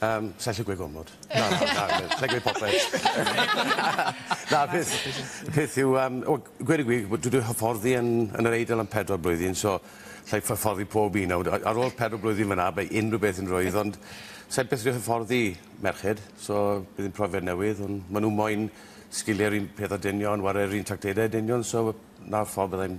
Yym, sa i'n gallu gweud gormod. Na, na, na, na, sa i'n gweud popeth. Na, peth, y peth yw, um, o, gweud y gwir, dwi wedi hyfforddi yn, yn yr Eidal am pedwar blwyddyn, so sa i'n hyfforddi pob un. Nawr, ar ôl pedwar blwyddyn fyna, mae unrhyw beth yn rwydd, ond sa i'n beth wedi hyfforddi merched, so bydd yn profiad newydd, ond maen nhw moyn sgiliau'r un peth a dynion, ware'r un tractedau a dynion, so na'r ffordd byddai'n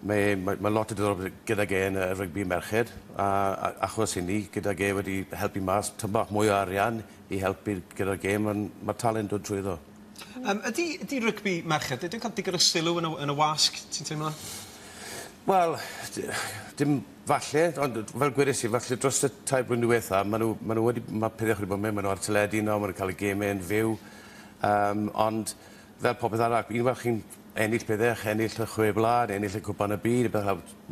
Mae mae mae lot o diddordeb gydag e yn y rygbi merched a a achos hynny gydag e wedi helpu mas tŷ bach mwy o arian i helpu gyda'r gêm on' ma'r talent dod trwyddo. Yym ydi ydi rygbi merched ydi o'n ca'l digon o sylw yn y yn y wasg ti'n teimlo? Wel d- dim falle ond yy fel gwedes i falle dros y tair blwyddyn dwetha ma' nw ma' nw wedi ma' pethe wedi bod myn' ma' nw ar teledu nawr ma' nw'n ca'l y geme yn fyw yym ond Fel popeth arall, un fel chi'n ennill pethau, chi'n ennill y Chwe Wlad, ennill y Cwpan y Byd,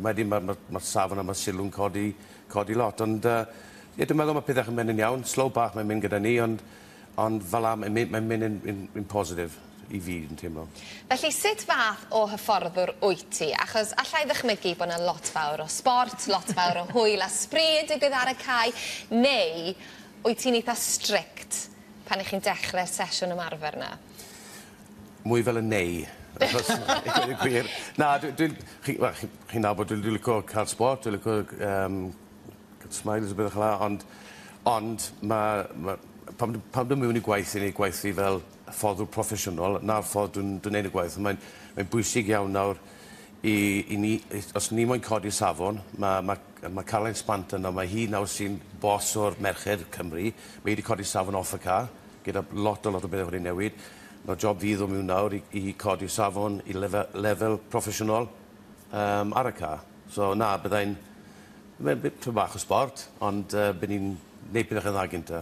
wedyn mae'r ma, ma safon a mae sylw'n codi, codi lot. Ond uh, ie, dwi'n meddwl mae pethau chi'n mynd yn iawn, slow bach mae'n mynd gyda ni, ond, ond fel am, mae'n mynd yn, yn, yn positif i fi, yn teimlo. Felly, sut fath o hyfforddwr wyt ti? Achos allai ddychmygu bod yna lot fawr o sbort, lot fawr o hwyl a sbri yn digwydd ar y cae, neu wyt ti'n eitha strict pan y'ch chi'n dechre'r sesiwn ymarfer 'na? Mwy fel y neu achos i gweud y gwir. Na dwi dwi'n chi wel chi chi'n nabod dwi dwi lico ca'l sbort dwi lico c- yym ca'l smiles a bethe ffel 'a ond ond ma' ma' pan dw pan dwi miwn i gwaith i neud gwaith fi fel hyfforddwr proffesiynol 'na'r ffordd dwi'n dwi'n neud y gwaith a mae'n mae'n bwysig iawn nawr I, i ni, os ni moyn codi'r safon, ma, ma, ma Caroline Spant yno, mae hi nawr sy'n boss o'r merched Cymru, mae hi wedi codi'r safon off y ca, gyda lot o lot o bethau wedi newid. Nawr job fi iddo miwn nawr i, i codi'r safon i lefel, lefel proffesiynol um, ar y ca. So na, byddai'n, mae'n bit bach o sport, ond uh, bydd ni'n neud pethau dda gynta.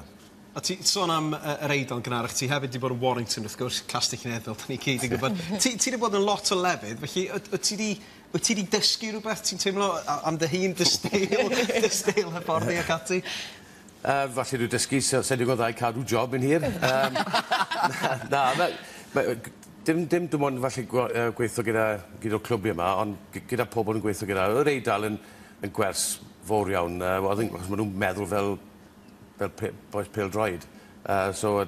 O ti sôn am yy yr Eidal gynharach ti hefyd 'di bod yn Warrington wrth gwrs Castell Nedd fel 'da ni gyd yn gwbod. Ti ti 'di bod yn lot o lefydd felly wt wt ti 'di wt ti 'di dysgu rwbeth ti'n teimlo a- am dy hun dy steil dy steil hyfforddi ac ati? Yy falle dwi dysgu sa sai'n digon dda i cadw job yn hir yym na na ma' yy g- dim dim dim ond falle gwa- yy gweitho gyda gyd o'r clwb yma ond gy- gyda pobol yn gweitho gyda yr Eidal yn yn gwers fowr iawn yy wel o'dd e'n achos ma' nw'n meddwl fel fel pe- bois pêl-droed yy so yy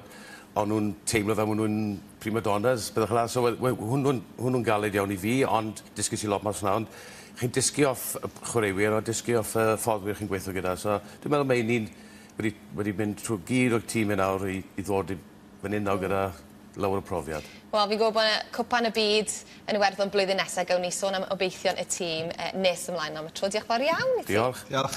o'n nhw'n teimlo fel ma' nhw'n prima donnas pethe fela so we- we- hwnnw'n hwnnw'n galed iawn i fi ond dysges i lot mas 'na ond chi'n dysgu off y p- chwaraewyr a dysgu off y fforddwyr chi'n gweitho gyda so dwi'n meddwl ma' 'yn ni'n wedi wedi mynd trwy gyd o'r tîm 'yn nawr i i ddod i fyn 'yn nawr gyda lawer o profiad. Wel fi'n gwbo' bo' 'na Cwpan y Byd yn Iwerddon blwyddyn nesa gewn ni sôn am obeithion y tîm yy nes ymlaen on' am y tro dioch fawr iawn i ti. Diolch. Diolch.